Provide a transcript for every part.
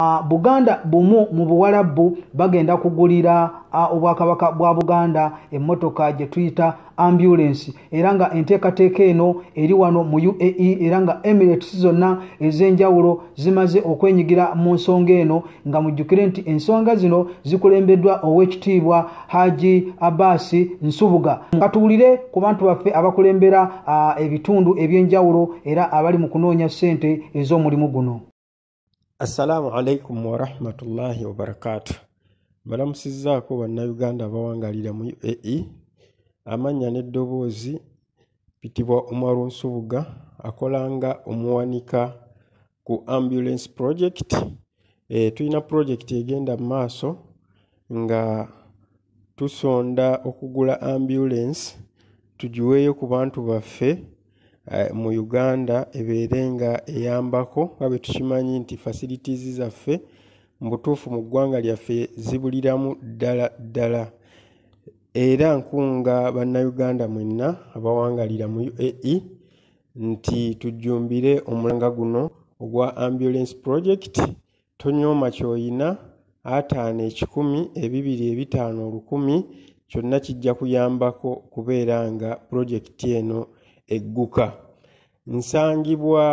Uh, buganda bumu mu buwalabbu bagenda kugulira uh, obwakabaka bwa buganda emmotoka gye tuyita ambulensi era nga enteekateeka eno eri wano mu uae era nga emirates zonna ez'enjawulo zimaze okwenyigira mu nsonga eno nga mujjukire nti ensonga zino zikulembeddwa ow'ekitiibwa haji abasi nsubuga katuwulire ku bantu baffe abakulembera uh, ebitundu eby'enjawulo era abali mu kunoonya ssente ez'omulimu guno Assalamu alaikum warahmatullahi wabarakatu. Mbalamusizzaako Bannayuganda abawangalira mu UAE. Amannya n'eddoboozi bitibwa Umaru Nsubuga akola nga omuwanika ku Ambulance Project. E, tulina project egenda mu maaso nga tusonda okugula ambulance tugiweeyo ku bantu baffe. eh, mu uganda ebeere nga eyambako nga bwe tukimanyi nti facilities zaffe mu butuufu mu ggwanga lyaffe zibuliramu ddala ddala era nkunga bannayuganda mwenna abawangalira mu uae nti tujjumbire omulanga guno ogwa ambulance project tonyooma kyoyina ataano ekikumi ebibiri ebitaano olukumi kyonna kijja kuyambako okubeera nga pulojekiti eno egguka nsangibwa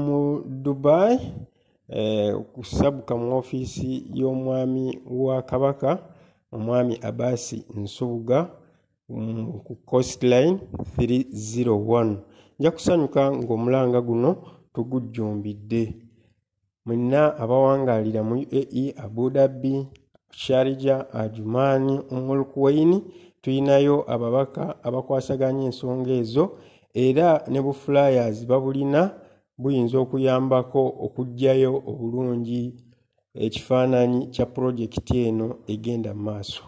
mu dubai eh, okusabuka mu ofiisi y'omwami wa kabaka omwami abasi nsubuga mm, ku costline 301 nja kusanyuka ng'omulanga guno tugujjumbidde mwenna abawangaalira mu uae abu dhabi sharija ajumaani umulkuwaini tulinayo ababaka abakwasaganya ensonga ezo era ne buflyers babulina buyinza okuyambako okugjayo obulungi ekifaananyi kya pulojekiti eno egenda mu maaso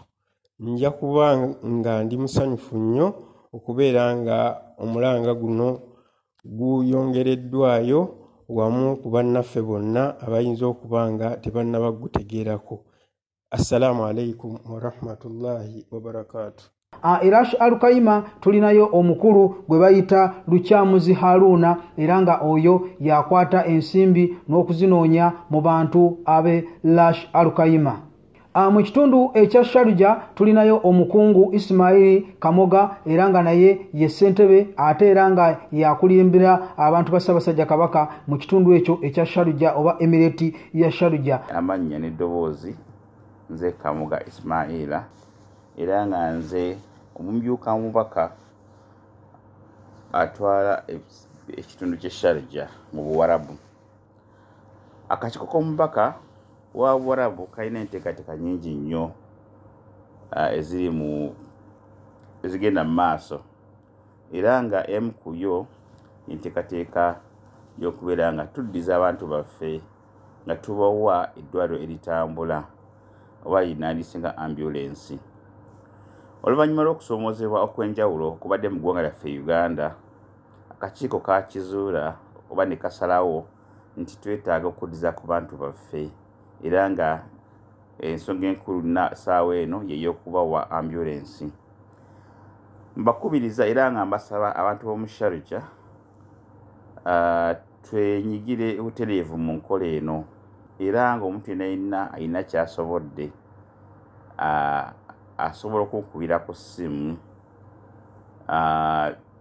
nja kuba nga ndi musanyufu nnyo okubeera nga omulanga guno guyongereddwayo wamu ku bannaffe bonna abayinza okuba nga tebannaba kugutegeerako assalamu alaikum warahmatullahi wabarakaatu Ah, era alukayima tulinayo omukulu gwe bayita lukyamuzi haruuna era nga oyo yakwata ensimbi n'okuzinoonya mu bantu abe lash alukayima Ah, mu kitundu ekya sharuja tulinayo omukungu isimaili kamoga era nga naye ye ssentebe ate era nga yakulimbira abantu ba ssabasajja kabaka mu kitundu ekyo ekya sharuja oba emireti ya sharuja amannya n'eddoboozi nze kamoga isimaila era nga nze omumyuka mubaka atwala ekitundu ky'esharuja mu buwarabu akakiiko k'omubaka wa warabu kalina enteekateeka nyingi nnyo ah, eziri mu ezigenda mu maaso era nga emu ku yo enteekateeka y'okubeera nga tuddiza abantu baffe nga tubawa eddwaliro eritambula oba yinaandise nga ambulensi oluvannyuma lw'okusoomozebwa okw'enjawulo kubadde mu ggwanga lyaffe uganda akakiiko kaakizuula oba ne kasalawo nti twetaaga okuddiza ku bantu baffe era nga ensonga enkulu na saawa eno yeyokubawa ambulensi mbakubiriza era nga mbasaba abantu b'omusharija twenyigire butereevu mu nkola eno era nga omuntu yena yenna alina kyasobodde asobola okunkubira ku ssimu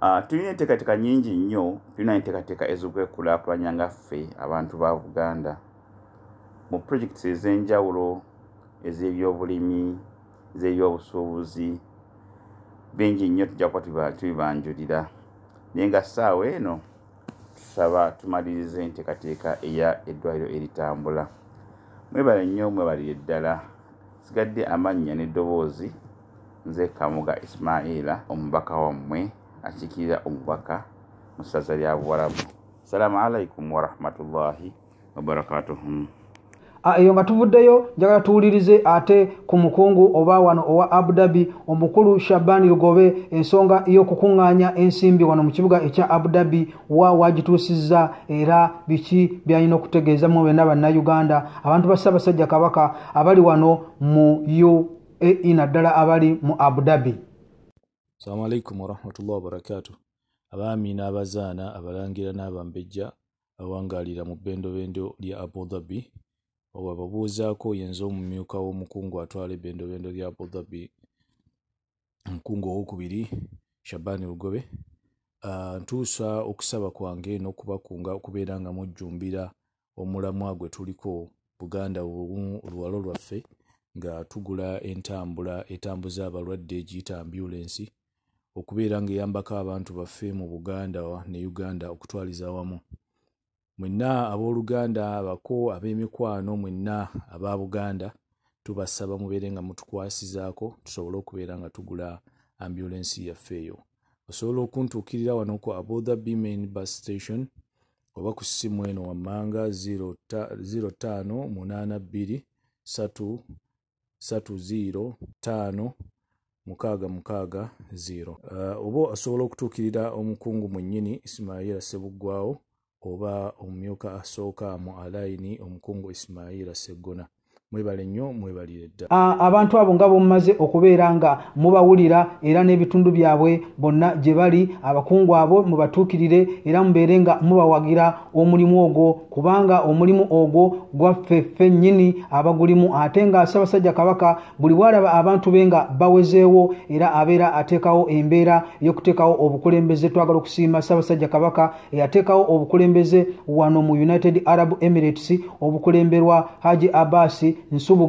Ah, tulina enteekateeka nyingi nnyo tulina enteekateeka ez'okwekulaakulanya nga ffe abantu ba buganda mu projekiti ez'enjawulo ez'ebyobulimi ez'ebyobusuubuzi bingi nnyo tujja kuba tubibanjulira naye nga ssaawa eno tusaba tumaliriza enteekateeka eya eddwaliro eritambula mwebale nnyo mwebalire ddala sigadde amannya n'eddoboozi nze kamuga ismaila omubaka wammwe akiikirira omubaka mu ssaza lya buwarabu salaamu alaikum warahmatullahi wabarakatuhum Ah, eyo nga tuvuddeyo njagala tuwulirize ate ku mukungu oba wano owa abu dhabi omukulu shabani lugobe ensonga y'okukuŋŋaanya ensimbi wano mu kibuga ekya abu dhabi wa wagituusizza era biki byalina okutegeeza mu bena bannayuganda abantu ba ssaabasajja kabaka abali wano mu u ae naddala abali mu abu dhabi salamu alaikum warahmatullahi wabarakatu abaami n'abazaana abalangira n'abambejja awangalira mu bendobendo lya abu dhabi wababuuzaako yenza omumyuka w'omukungu atwala ebendobendo lya abu dhabi omukungu owokubiri shabani lugobe ah, ntuusa okusaba kwange n'okubakunga okubeera nga mujjumbira omulamwa gwe tuliko buganda obumu oluwalo lwaffe nga tugula entambula etambuza abalwadde egiyita ambulensi okubeera ng'eyambako abantu baffe mu buganda ne uganda okutwaliza awamu mwenna abooluganda abako ab'emikwano mwenna aba buganda tubasaba mubeere nga mutukwasizaako tusobole okubeera nga tugula ambulensi yaffe eyo osobola okuntuukirira wano ku abother bmain bus station oba ku ssimu eno wammanga 058230 mukaaga mukaaga 0 uh, oba asobola okutuukirira omukungu mwennyini isimaila sebuggwawo oba omumyuka asooka mu alayini omukungu isimaila seggona mwebale nnyo mwebalire dda abantu abo nga bomumaze okubeera nga mubawulira era n'ebitundu byabwe bonna gye bali abakungu abo mubatuukirire era mubeere nga mubawagira omulimu ogwo kubanga omulimu ogwo gwaffe ffe nnyini abagulimu ate nga ssabasajja kabaka buli bwalaba abantu be nga bawezeewo era abeera ateekawo embeera y'okuteekawo obukulembeze twagala okusiima ssabasajja kabaka eyateekawo obukulembeze wano mu united arab emirates obukulemberwa haji abasi nsubuga